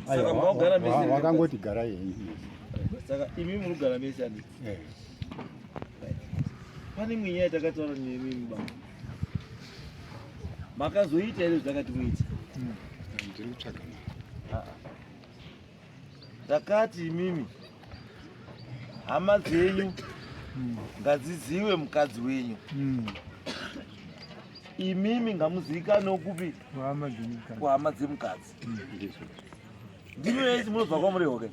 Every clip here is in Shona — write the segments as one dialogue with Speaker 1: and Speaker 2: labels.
Speaker 1: Saka maugara mese here? Wakangoti gara henyu.
Speaker 2: Saka
Speaker 1: imi munogara mese ani? Eh. Pane imwe nyaya takataura nemi mubaba. Makazoita here zvakati muita? Hmm. Ndiri
Speaker 2: kutsvaga mari.
Speaker 1: Ndakati imimi hama dzenyu hmm. ngadziziwe mukadzi wenyu. Hmm. Imimi ngamuzivikanwe kupi kuhama dzemukadzi ndimi vese munobva kwamuri hoke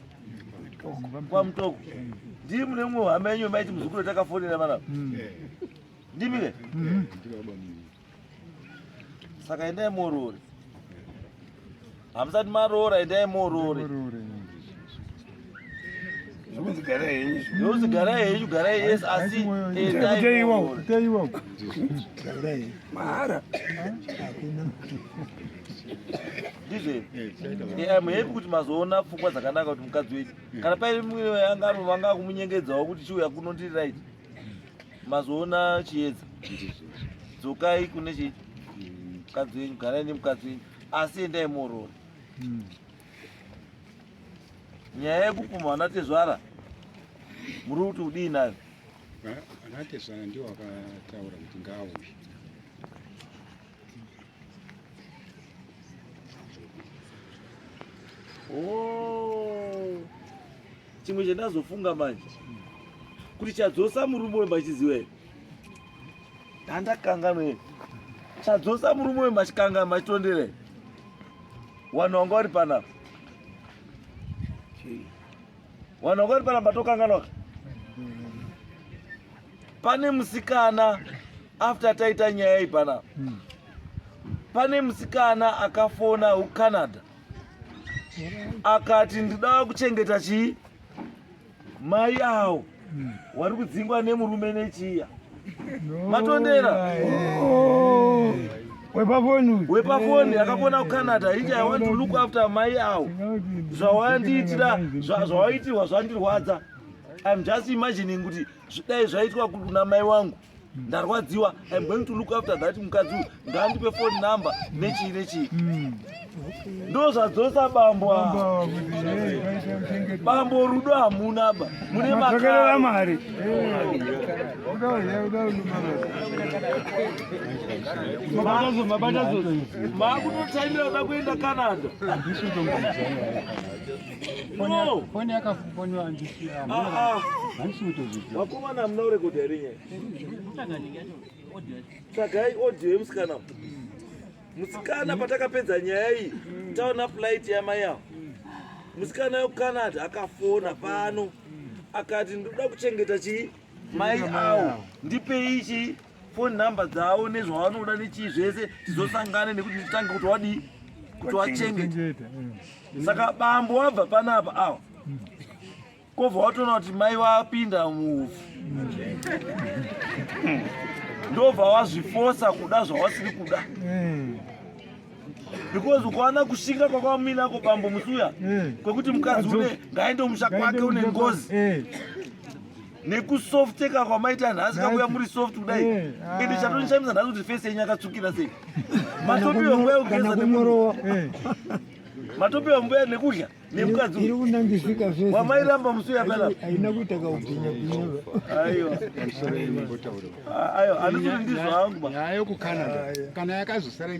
Speaker 1: kwamutoko ndiri mune mumwe hama yenyu maiti muzukuru takafonera vana mm. ndimi ke mm-hmm. saka endai muoroore hamusati maroora endai muoroore zvokunzi garai henyu zvokunzi garai henyu garai yes asi mahara ndizve muhepi kuti mazoona pfungwa dzakanaka kuti mukadzi wedu kana paine mumwe yanga anovanga akumunyengedzawo kuti chiuya kuno ndiri right mazoona chiedza dzokai kune chii mukadzi wenyu garai nemukadzi wenyu asi endai muoroora hmm. nyaya yekupumha vana tezvara muri kuti udii nayo vana
Speaker 2: tezvara ndiwo vakataura kuti ngaauye
Speaker 1: oh. chimwe chandazofunga manje kuti chadzosa murume wembachiziwee handakanganwa here chadzosa murume uyu machikanga machitondere wanhu wanga wari pana wanhu wanga wari pana patokanganwaka pane musikana after taita nyaya iyi pana hmm. pane musikana akafona ucanada akati ndidava kuchengeta chii Mai awo wari kudzingwa nemurume nechiya matondera oh. wepafoni wepafoni akafona kucanada inja i want to look after mai awo zvawandiitira zvawaitirwa zvandirwadza im just imagining kuti dai zvaitwa kuna mai wangu ndarwadziwa i'm going to look after that mukadzi uyu ngaandipe phone number nechii nechii mm. ndo zvadzosa bambo bambo rudo hamuna ba mune makerera mari makutotaimira da kuenda canada Foni yakafoniwa
Speaker 2: ndisiya. Ah ah. Handisi kutozviziva.
Speaker 1: Vakomana mna urekodha here nyaya? Tsvagai audio yemusikana. Musikana patakapedza nyaya iyi, taona flight yamai avo. Musikana yokuCanada akafona pano akati ndoda kuchengeta chii? Mai awo ndipei chii? phone number dzavo nezvavanoda nechii zvese tizosangane nekuti nditange kuti wadii kuti wachengeta saka bambo wabva panapa awa kobva watoona kuti mai vapinda muufu ndobva wazvifosa kuda zvawasiri kuda because ukaona kushinga kwakwamuinako bambo musuya kwekuti mukadzi une ngaende musha kwake une ngozi nekusofteka kwamaita nhasi kakuya muri soft kudai eh, ende ah. chatonishamisa nhasi kuti fesi yenyu akatsvukira sei matopiwa nguva yekugeza nemurowa eh. matopiwa nguva ya nekudya nemukadzwamairamba
Speaker 3: musi
Speaker 1: uyaperahaina kuita
Speaker 3: kaubhinyabhinyaaiwa
Speaker 1: ah, andisuri ndizvo hangu ayo kucanada
Speaker 2: kana yakazosara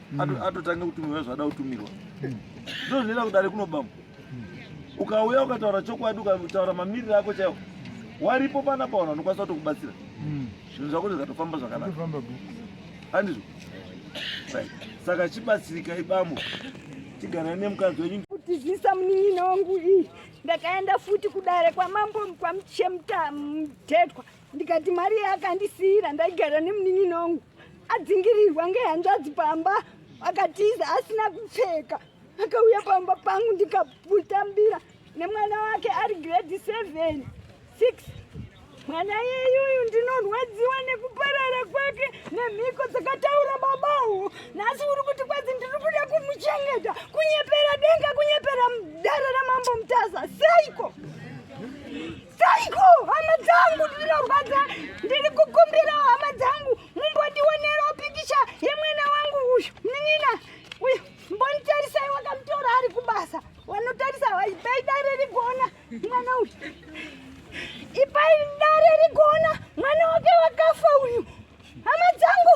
Speaker 1: mm. atotanga kutumirwa zvada kutumirwa mm. ndozvinoita kudare kunobama mm. ukauya ukataura chokwadi ukataura mamiriro ako chaiwo waripo pana paona unokwanisa kuti kubatsira zvinhu zvako zvikatofamba zvakanaka handizvo saka chibatsirika ibamo tiganai nemukadzi wenyu kutizisa munin'ina
Speaker 4: wangu iyi ndakaenda futi kudare kwamambo kwamuchemta mtetwa ndikati mari yaakandisiira ndaigara nemunin'ina wangu adzingirirwa ngehanzvadzi pamba akatiza asina kupfeka akauya pamba pangu ndikaputambira nemwana wake ari grade seven six mwana yeyuyu ndinorwadziwa nekuparara kwake nemhiko dzakataura babawo nhasi uri kuti kwadzi ndiri kuda kumuchengeta kunyepera denga kunyepera dare ramambo mutaza seiko Taiko, hama dzangu ndinorwadza, ndiri kukumbira hama dzangu mumbondionerewo pikicha yemwana wangu uyu munin'ina uyu mbonitarisai wakamutora ari kubasa wanotarisa ipai dare rigona mwana uyu ipai dare rigona mwana wake wakafa uyu hama dzangu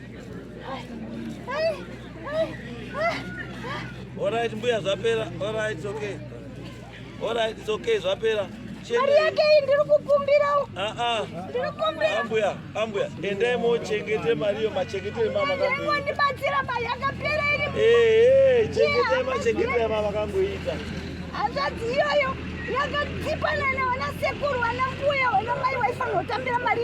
Speaker 1: Alright, mbuya zvapera. Alright, it's okay. Alright, it's okay, zvapera. Mari yake iyi
Speaker 4: ndiri kukumbira. Ah ah. Ndiri kukumbira. Ambuya, ambuya, endai
Speaker 1: mochengete mari yo machengete mama kangu. Ndimo ndibatsira mari
Speaker 4: yakapera iri. Eh eh, chengete machengete
Speaker 1: ya mama kangu ita. Hanzvadzi
Speaker 4: iyoyo yakadzipa nana wana sekuru wana mbuya wana mai waifanira kutambira mari.